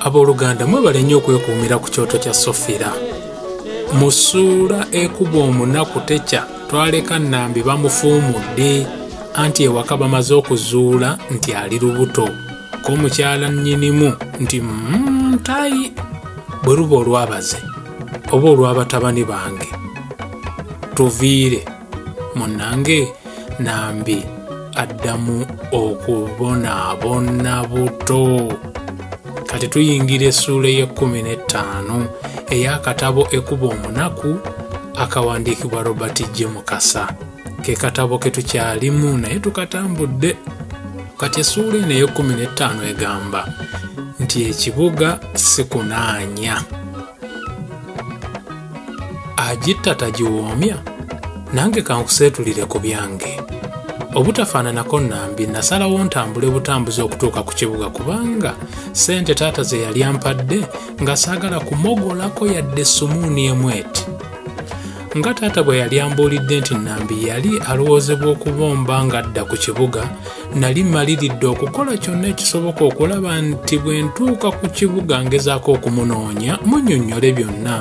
abooluganda mwebale nnyo okwekuumira ku kyoto kya sofira mu ssuula ekuba omunaku tekya twaleka nnambi bamufuumudde anti ewaka bamaze okuzuula nti ali lubuto ko mukyala nnyinimu nti mm, tayi bwe luba olwabaze oba olw'abatabani bange tuviire munnange nambi addamu okubonaabona buto kati tuyingira essuula ey'ekkumi n'ettaano ey'akatabo ekuba omunaku akawandiikibwa robert g mukasa ke katabo ke tukyalimu naye tukatambudde kati essuula eno ey'ekkumi n'ettaano egamba nti ekibuga sikunaanya agitta tagiwoomya nange kankuseetulire ku byange obutafaananako nambi nasalawo ntambule butambuzi okutuuka ku kibuga kubanga sente taata ze yali ampadde nga saagala kumogolako yadde esumuuni emu eti nga taata bwe yali ambuulidde nti nambi yali alowoozebwa okubomba ng'adda ku kibuga Nali mmaliridde okukola kyonna ekisoboka okulaba nti bwe ntuuka ku kibuga ngezaako okumunoonya munyonnyole byonna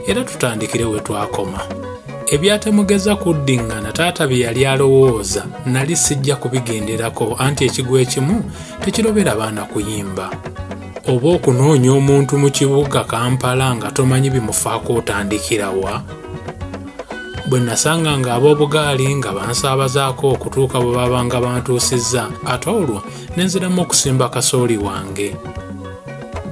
era tutandikire we twakoma. Ebyatemugeza kuddingana taata bye yali alowooza nali sijja kubigenderako anti ekigwa ekimu tekirobera baana kuyimba. Oba okunoonya omuntu mu kibuga Kampala nga tomanyi bimufaako otandikirawa? bwe nasanga nga ab'obugaali nga bansaabazaako okutuuka bwe babanga bantuusizza ate olwo ne nziramu okusimba kasooli wange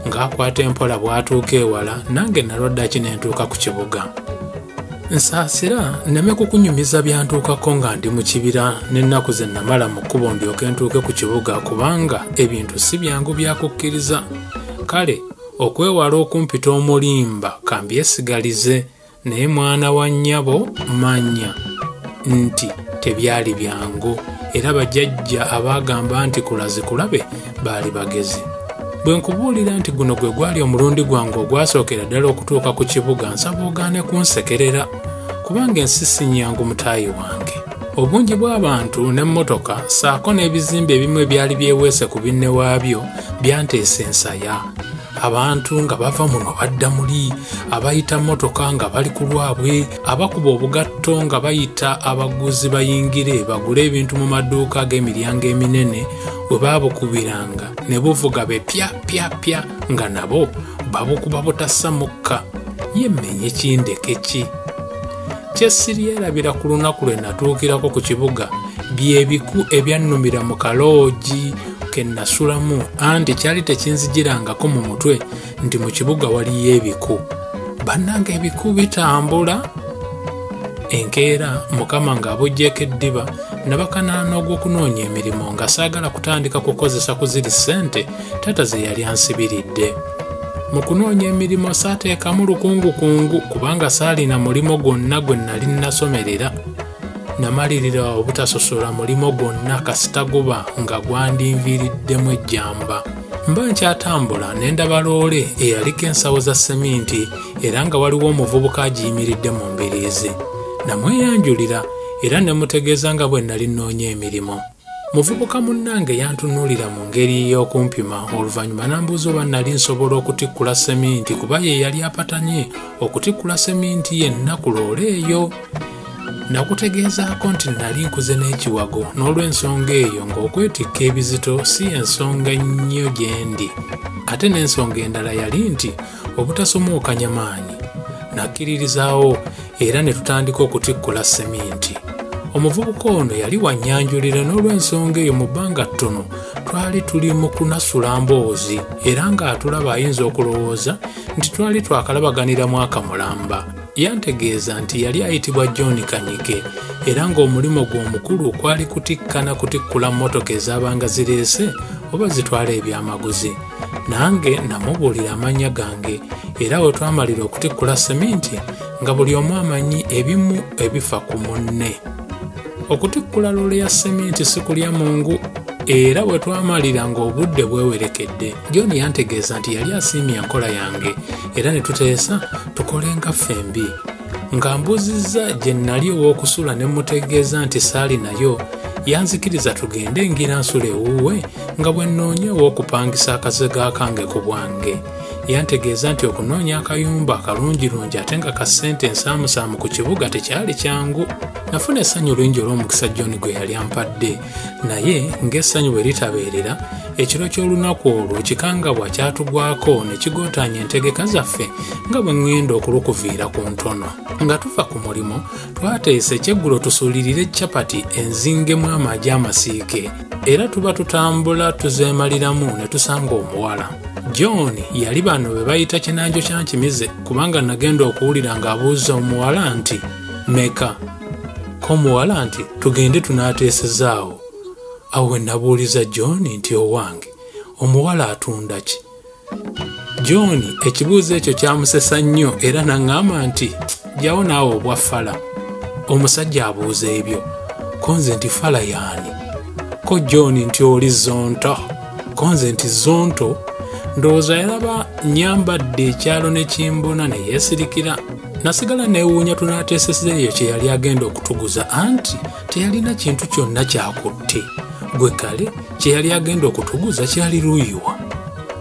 ng'akwata empola bw'atuuka ewala nange nalwaddaki ne ntuuka ku kibuga nsaasira nneme kukunyumiza byantuukako nga ndi mu kibira n'ennaku ze namala mu kkubo ndyoke ntuuke ku kibuga kubanga ebintu si byangu byakukkiriza kale okwewala okumpita omulimba kambyesigalize naye mwana wa nnyabo manya nti tebyali byangu era bajajja abaagamba nti kulazi kulabe baali bagezi bwe nkubuulira nti guno gwe gwali omulundi gwange ogwasookera ddala okutuuka ku kibuga nsaba ogaane kunsekerera kubanga ensi si nnyangu mutaayi wange obungi bw'abantu n'emmotoka ssaako n'ebizimbe ebimu ebyali byeweese ku binne waabyo byanteesa ensaya abantu nga bava muno badda muli abayita mmotoka nga bali ku lwabwe abakuba obugatto nga bayita abaguzi bayingire bagule ebintu mu maduuka ag'emiryango eminene we baabukubiranga ne buvuga be pya pya pya nga nabo babukuba butassa mukka yemmenye kindeke ki kye siryerabira ku lunaku lwe natuukirako ku kibuga bye biku ebyannumira mu kaloogi ke nnasulamu anti kyali tekinzijirangako mu mutwe nti mu kibuga waliyo ebiku bannanga ebiku bitambula enkeera mukama ng'abojjeeko eddiba nabakanaana ogw'okunoonya emirimu nga saagala kutandika kukozesa ku ziri ssente taata ze yali ansibiridde mu kunoonya emirimu saateekamu lukungukungu kubanga saalina mulimu gwonna gwe nnali nnasomerera namalirira obutasosola mulimo gwonna kasita guba nga gwandinviiriddemu ejjamba mba nkyatambula ne ndaba loole eyaliko ensawo za seminti era nga waliwo omuvubuka agiyimiridde mu mbiriizi namweyanjulira era ne mutegeeza nga bwe nali nnoonya emirimu muvubuka munnange yantunuulira mu ngeri y'okumpima oluvannyuma n'ambuuza oba nnali nsobola okutikkula seminti kuba ye yali apatanye okutikkula seminti yenna ku loole eyo nakutegeezaako nti nnali nkuze n'ekiwago n'olw'ensonga eyo ng'okwetikka ebizito si ensonga nnyo gye ndi ate n'ensonga endala yali nti obutasomookanya maanyi nakkiririzaawo era ne tutandika okutikkula seminti omuvubuka ono yali wannyanjulira n'olw'ensonga eyo mu bbanga ttono twali tuli mu kunasula mboozi era ng'atulaba ayinza okulowooza nti twali twakalabaganira mwaka mulamba yantegeeza nti yali ayitibwa john kanyike era ng'omulimu gwe omukulu kwali kutikkana kutikkula mmotoka ezaabanga zireese oba zitwala ebyamaguzi nange namubuulira amannya gange era we twamalira okutikkula seminti nga buli omu amanyi ebimu ebifa ku munne okutikkula loole ya seminti si kulya mungu era bwe twamalira ng'obudde bwewerekedde john yantegeeza nti yali asiimye enkola yange era ne tuteesa tukolenga ffembi nga mbuuzizza gye nnali ow'okusula ne mmutegeeza nti saali nayo yanzikiriza tugende ngira nsula ewuwe nga bwe nnoonya ow'okupangisa akazega kange ku bwange yantegeeza nti okunoonya akayumba akalungirungi ate nga ka ssente ensaamusaamu ku kibuga tekyali kyangu nafuna essanyu lingi olw'omukisa john gwe yali ampadde naye ng'essanyu bwe litabeerera ekiro ky'olunaku olwo ekikangabwa kyatugwako ne kigootaanya entegeka zaffe nga bwe ŋŋenda okulukuviira ku ntono nga tuva ku mulimu twateesa ekyeggulo tusuulirire capati enzingemu amagi amasiike era tuba tutambula tuzeemaliramu ne tusanga omuwala john yali bano be bayita kinanjo kya nkimize kubanga nagenda okuwulira ng'abuuza omuwala nti meka ko omuwala nti tugende tunaateesezaawo awo we nabuuliza john nti owange omuwala atunda ki john ekibuuzo ekyo kyamusesa nnyo era naŋŋamba nti jawo naawe obwa fala omusajja abuuza ebyo ko nze nti fala yaani ko john nti oli zonto ko nze nti zonto ndowooza yalaba nyambadde ekyalo ne kimbona ne yeesirikira nasigala neewuunya tunaateeseza eyo kye yali agenda okutuguza anti teyalina kintu kyonna kyakutte gwe kale kye yali agenda okutuguza kyali luyiwa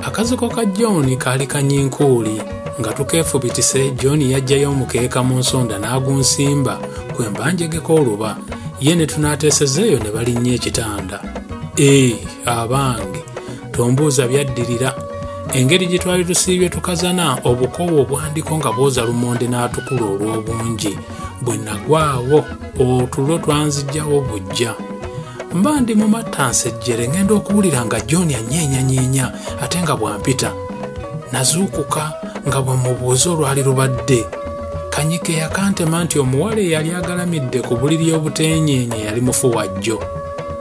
akaziko ka john kaali kanyinkuuli nga tukeefubitise john yajjayo omukeeka mu nsonda n'agunsimba kwe mbanjegeko oluba ye ne tunaateeseza eyo ne balinnya ekitanda ee abange tombuuza byaddirira engeri gye twali tusiibye tukazana obukoowa obwandiko nga bwoza lumonde n'atukula olw'obungi bwe nagwawo otulo twanzijjawo bujja mba ndi mu matta nsejjere ng'enda okuwulira nga john anyeenyanyeenya ate nga bwampita nazuukuka nga bwe mubuuza olwali lubadde kanyike yakantema nti omuwala eyali agalamidde ku buliri obuteenyeenya yali mufu wajjo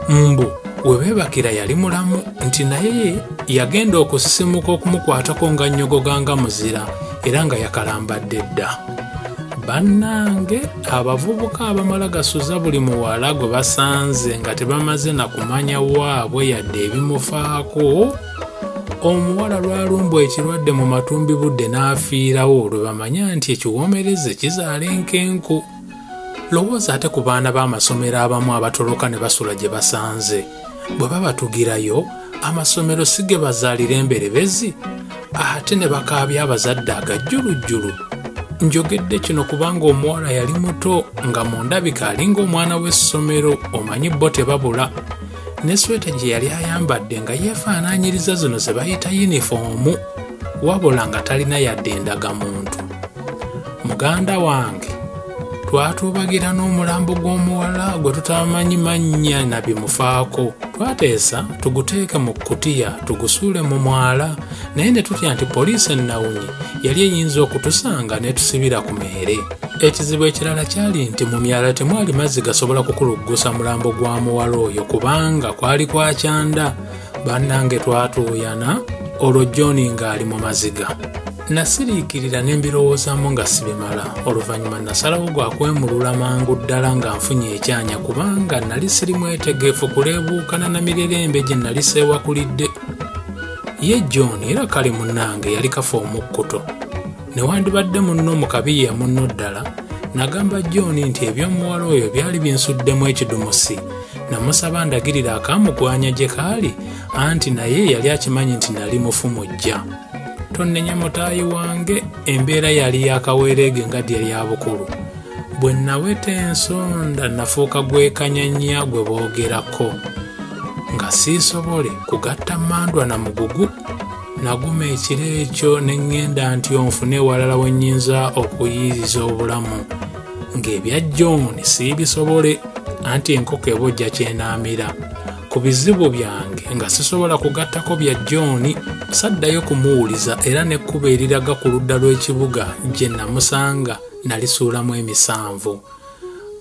mbu webebakira yali mulamu nti naye yagenda okusisimuka okumukwatako nga nnyogoga nga muzira era nga yakalambadde dda bannange abavubuka abamala gasuza buli muwala gwe basanze nga tebamaze na kumanya waabwe yadde ebimufaako omuwala lwalumbwa ekirwadde mu matumbi budde n'afiirawo lwe bamanya nti ekiwoomereze kizaala enkenku lowooza ate ku baana b'amasomero abamu abatoloka ne basula gye basanze bwe babatugirayo amasomero si ge bazaalira emberebezi ate ne bakaabya abazadde agajjulujjulu njogedde kino kubanga omuwala yali muto nga mu ndabika alinga omwana w'essomero omanyi bo tebabula ne sweta gye yali ayambadde nga yeefaanaanyiriza zino ze bayita yunifoomu wabula nga talina yadde endagamuntu muganda wange twatuubagira n'omulambo gw'omuwala gwe tutamanyi mannya na bimufaako twateesa tuguteeke mu kkutiya tugusuule mu mwala naye ne tutya nti poliisi ennawunyi yali eyinza okutusanga n'etusibira ku meere ekizibu ekirala kyali nti mu myala temwali mazzi gasobola kukuluggusa mulambo gwa muwala oyo kubanga kwali kwa kyanda bannange twatuuyana olwo john ng'ali mu maziga Nasiriikirira ne mbirowoozaamu nga sibimala. Oluvannyuma nasalawo gwa kwemulula mangu ddala nga nfunye ekyanya kubanga nali siri mwetegeefu kuleebuukana na mirerembe gye nali seewakulidde. Ye John era kale munnange yali kafa omukkuto. Newandibadde munno mu kabiya munno ddala, nagamba John nti eby'omuwala oyo byali binsuddemu ekidumusi. Namusaba ndagirira akamugwanya gye kaali anti naye yali akimanyi nti nali mufu mujja. tonnenya mutaayi wange embeera yali yakaweereege nga dya lyabukulu bwe naweta ensonda nafuuka gwekanyanya gwe boogerako nga siisobole kugatta mandwa na mugugu naguma ekiro ekyo ne ŋŋenda nti onfune ewalala we nnyinza okuyiiriza obulamu ng'ebya john siibisobole anti enkoko ebojja kyenaamira ku bizibu byange nga sisobola kugattako bya john saddayo kumuwuliza era n'ekkuba eriraga ku ludda lw'ekibuga gye namusanga nalisuulamu emisanvu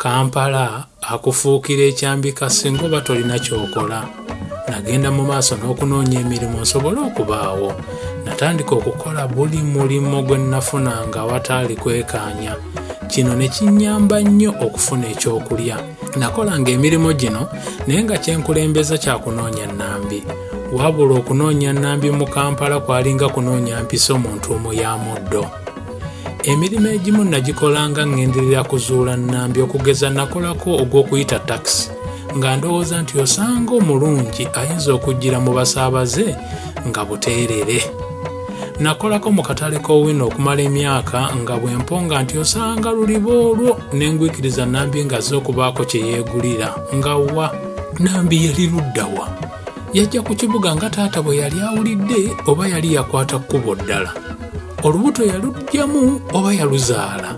kampala akufuukira ekyambika singa oba tolina kyokola nagenda mu maaso n'okunoonya emirimu nsobole okubaawo natandika okukola buli mulimu gwe nnafunanga awataali kwekaanya kino ne kinnyamba nnyo okufuna ekyokulya nakolanga emirimu gino naye nga kyenkulembeza kyakunoonya nambi wabula okunoonya nambi mu kampala kwalinga kunoonya mpiso mu ntuumu ya muddo emirimu egimu nagikolanga ŋŋenderera kuzuula nambi okugeza nakolako ogw'okuyita takisi nga ndowooza nti osanga omulungi ayinza okujjira mu basaabaze nga buteerere nakolako mu katale k'owino okumala emyaka nga bwe mponga nti osanga luliba olwo ne ngwikiriza nambi ng'azze okubaako kye yeegulira nga wa nambi yali ludda wa yajja ku kibuga nga taata bwe yali awulidde oba yali yakwata kkubo ddala olubuto yalugyamu oba yaluzaala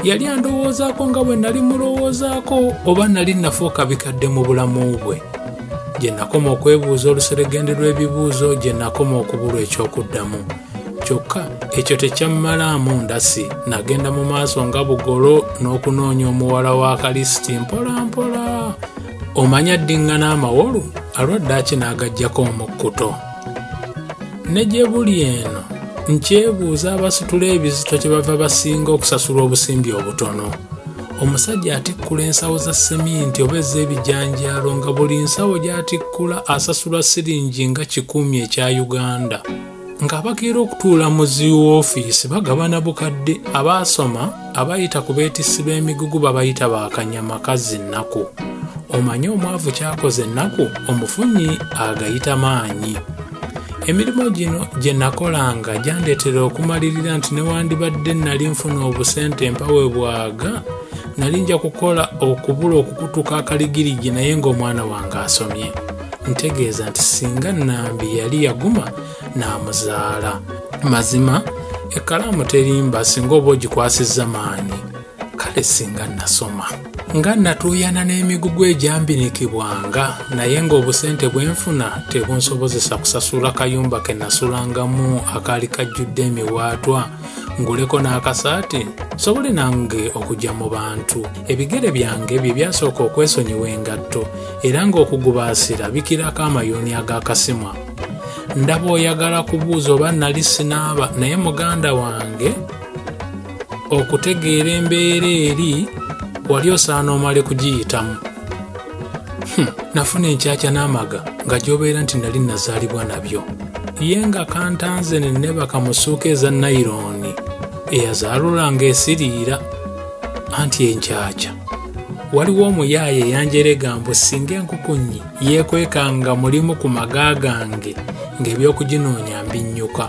yali andowoozaako nga bwe nali mulowoozaako oba nali nafuuka bikadde mu bulamu bwe gye nakoma okwebuuza oluseregende lw'ebibuuzo gye nakoma okubulwa eky'okuddamu kyokka ekyo tekyammalaamu ndasi nagenda mu maaso nga bugolo n'okunoonya omuwala wa kalisiti mpolampola omanya ddiŋŋana amawolu alwadde akinagajjako omukkuto ne gye buli eno nkyebuuza abasitula ebizito kye bava basinga okusasulwa obusimbi obutono omusajja atikkula ensawo za seminti oba ez'ebijanjaalo nga buli nsawo gy'atikkula asasulwa siringi nga kikumi ekya uganda ng'abakeera okutuula mu ziwoofiisi bagabana bukadde abaasoma abayita ku beetissi b'emigugu babayita ba kanyama kazzi nnaku omanyi omwavu kyakoze ennaku omufunyi agayita maanyi emirimu gino gye nakolanga gyandeetera okumalirira nti newandibadde nali nfuna obusente mpawe bwaga nali nja kukola okubula okukutuka akaligirigi naye ng'omwana wange asomye ntegeeza nti singa nambi yali yaguma n'amuzaala mazima ekkalaamu terimba singa oba ogikwasizza maanyi kale singa nasoma nga natuuyana n'emigugu egyambinikibwanga naye ng'obusente bwe nfuna tebunsobozesa kusasula kayumba ke nasulangamu akaali kajjudde emiwaatwa nguleko n'akasaati sobole nange okujja mu bantu ebigere byange bye byasooka okwesonyiwa engatto era ng'okugubaasira bikirako amayuuni ag'akasimwa ndaba oyagala kubuuza oba nali sinaaba naye muganda wange okutegeera embeera eri wali osaana omale kugiyitamu hmm, nafuna enkyakya n'amaga nga gyobeera nti nali nazaalibwa nabyo ye nga kantanze nenebaka musuuka eza nayirooni eyazaalula nga esiriira anti enkyakya waliwo omuyaaye eyanjeregambu singa enkukunyi yeekwekanga mulimu ku maga gange ng'ebyokuginoonya mbinnyuka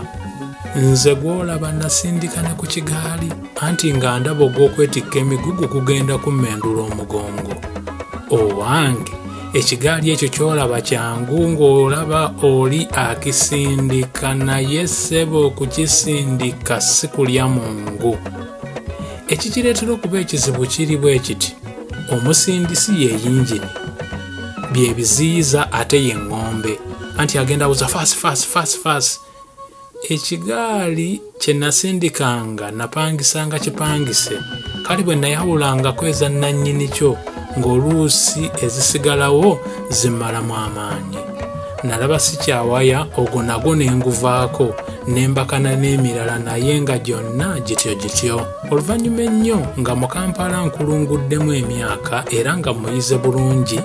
nze gw'olaba nasindika ne ku kigaali anti nga ndaba ogw'okwetikka emigugu gugenda kummendula omugongo owange ekigaali ekyo kyolaba kyangu ng'olaba oli akisindika naye ssebo okukisindika si kulya mu ngu ekikireetera okuba ekizibu kiri bwe kiti omusindisi ye yingini byebiziyiza ate ye ŋŋombe anti agenda buza fasi fasi fasi fasi ekigaali kye nasindikanga napangisanga kipangise kale bwe nayawulangako eza nnannyini kyo ng'oluusi ezisigalawo zimmalamu amaanyi nalaba sikyawaya ogwo nagwo ne nguvaako ne mbakana n'emirala naye nga gyonna gityo gityo oluvannyuma ennyo nga mu kampala nkulunguddemu emyaka era nga muyize bulungi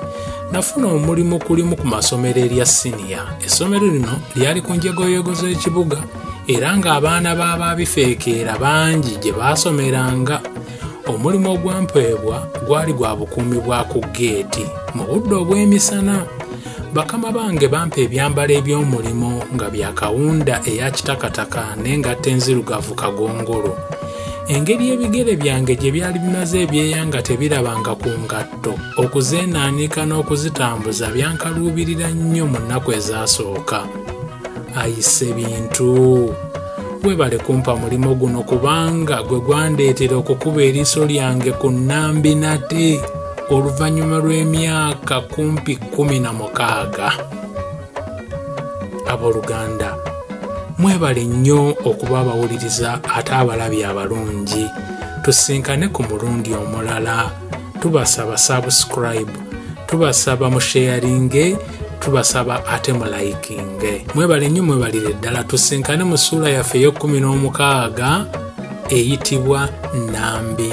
nafuna omulimu kulimu ku masomero erya siniya essomero lino lyali ku njegoyego z'ekibuga era ng'abaana b'abaabifeekeera bangi gye baasomeranga omulimu ogwampeebwa gwali gwa bukuumi bwa ku geeti mu budde obw'emisana bakama bange bampa ebyambalo eby'omulimu nga bya kawunda eya kitakataka n'engatta enzirugavu kagongolo engeri ebigere byange gye byali bimaze ebyeya nga tebirabanga ku ngatto okuzeenaanika n'okuzitambuza byankaluubirira nnyo mu nnaku ezaasooka ayise bintu webale kumpa mulimu guno kubanga gwe gwandeetera okukuba eriiso lyange ku nnambi nate oluvannyuma lw'emyaka kumpi kumi na mukaaga abooluganda mwebale nnyo okuba abawuliriza ate abalabi abalungi tusinkane ku mulundi omulala tubasaba subscribe tubasaba musheyaringe tubasaba ate mulayikinge mwebale nnyo mwebalire ddala tusinkane mu ssuula yaffe ey'okkumi n'omukaaga eyitibwa nambi